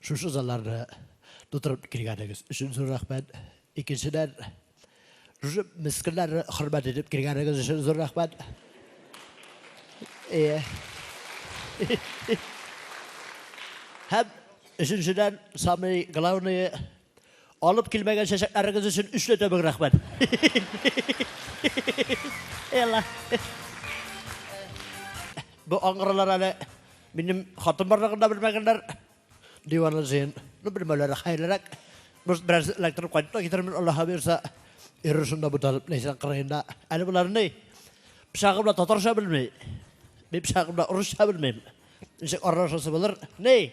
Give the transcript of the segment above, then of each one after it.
Шушы залларны тутырып килгәнегез өчен зур рәхмәт. Икенчедән, шушы мескеннәрне хөрмәт итеп килгәнегез өчен зур рәхмәт. Ие. Һәм өченчедән, самый главные, Алып килмәгән чәчәкләрегез өчен өчле төбек рәхмәт. Элла. Бу аңгыралар әле минем хатын барлыгын да белмәгәннәр. Диваны зыен. Ну, белмәүләре хәерлерәк. Без бераз электр кайтып та китермен, Аллаһ бирсә. Ирер шунда буталып, Ләйсән кырыенда. Әле болар ни? Пычагы белән татарча белми. Мин пычагы белән урысча белмим. Ничек аралашасы булыр? Ни?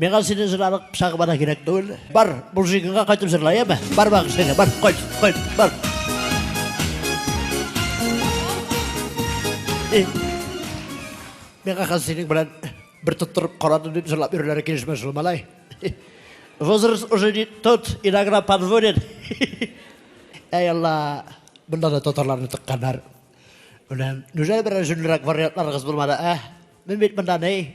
Миңа сине җырларлык чагы бара кирәк түгел. Бар, Булжигыңа кайтып җырла, яме? Бар багыш сине, бар, кайт, кайт, бар. Миңа хәзер синең белән бер тоттырып карадым дип җырлап йөрүләре килешмә шул, малай. Возраст уже не тот, иногда подводит. Әй Алла, бында да татарларны тыкканнар. Үләм, нүжә берәр җүнлерәк вариантларыгыз булмады, ә? Мин бит бында ни?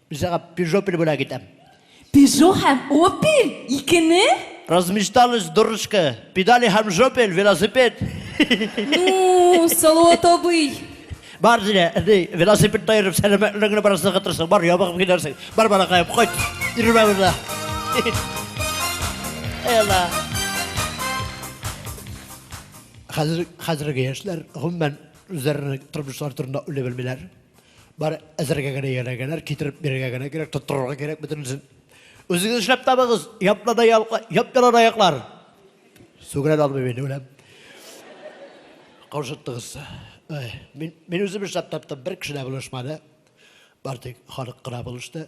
Үзәгә пижопель бүләк итәм. Пежо һәм опель? Икене? Размечталось, дурочка. Педали һәм жопель, велосипед. Ну, Салават абый. Бар, Зилә, әни, велосипед та йөреп, сәламәтлегеңне бераз ныгытырсың. Бар, ябыгып килерсең. Бар, балакаем, кайт. Йөрмә монда. Әй Алла. Хәзер, хәзерге яшьләр, гомумән, үзләренең тормышлары турында уйлый белмиләр. Бары әзергә генә ярәгәләр, китереп бирергә генә кирәк, тоттырырга кирәк бөтенесен. Үзегез эшләп табыгыз, япла да ялка, яп ялан аяклар. Сүгенә дә алмыйм инде, үләм. Каушыттыгыз. Мин, мин үзем эшләп таптым, бер кеше дә булышмады. Бары тик халык кына булышты.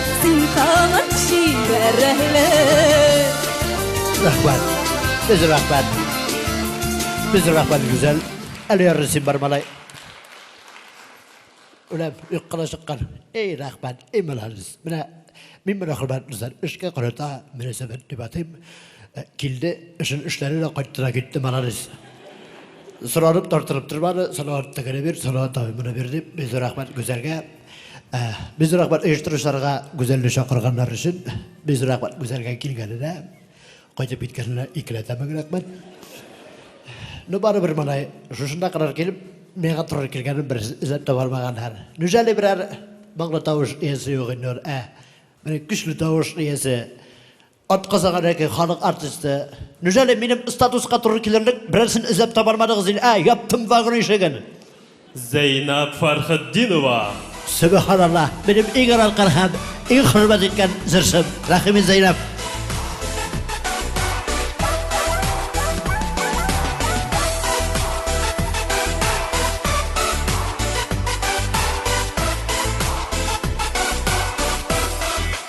Рәхмәт. Без рәхмәт. Без рәхмәт гүзәл. Әле ярысын бар малай. Үләм, юк кына чыккан. Эй, рәхмәт, эй, молодец. Менә мин менә хөрмәтле зәр, эшкә карата мөнәсәбәт дип атыйм. Э, килде, эшен эшләре дә кайтты да китте, молодец. Соралып тартырып тормады, Салават тәгәрә бир, Салават абый менә бир дип, без рәхмәт гүзәлгә. Без рәхмәт оештыручыларга Гүзәлне чакырганнар өчен. Без рәхмәт Гүзәлгә килгәненә. Кайтып киткәненә икеләтәме рәхмәт. Ну барыбер монай шушында кадәр килеп, миңа туры килгәнен берсе эзләп таба алмаган һәр. Нүҗәле берәр моңлы тавыш иясе юк инде ул. Ә менә көчле тавыш иясе Атказангадагы халык артисты. Нүжәле минем статуска туры килерлек берәрсен эзләп табармадыгыз ин, ә? Яптым вагон ишеген. Зәйнәб Фәрхетдинова. Сөбеханалла, минем иң аралкан һәм иң хөрмәт иткән җырчым, Рәхимин Зәйнәб.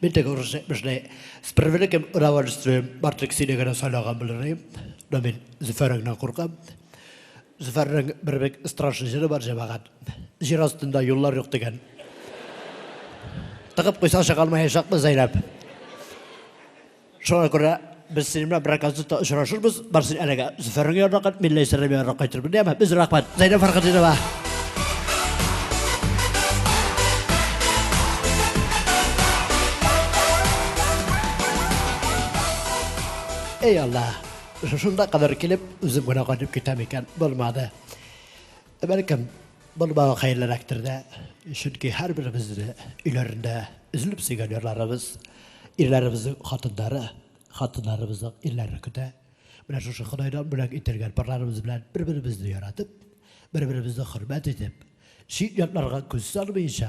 Мин теге урысча әйтмешли. С превеликим удовольствием Бартрик сине генә сайлаган булыр идем. Но мин Зөфәреңнән куркам. Зөфәрнең бер бик страшный җыры бар, җәмәгать. Җир астында юллар юк дигән. Тыгып куйсаң чыга алмаячакбыз әйләп. Шуңа күрә без синең белән берәр концертта очрашырбыз. Бар син әлегә Зөфәрнең янына, Милләй Сәләм янына кайтырбыз, дияме? Без рәхмәт. Зәйнәб Фәрхетдинова. Эй Алла, шунда кадәр килеп, үзем генә кайтып китәм икән, булмады. Бәлкем, бу бала хәерлерәктер дә, чөнки һәрберебез дә өйләрендә өзелеп сөйгән ярларыбыз, ирләребезнең хатыннары, хатыннарыбызның ирләре көтә. Менә шушы Ходайдан бүләк ителгән парларыбыз белән бер-беребезне яратып, бер-беребезне хөрмәт итеп, чит-ятларга күз салмыйча,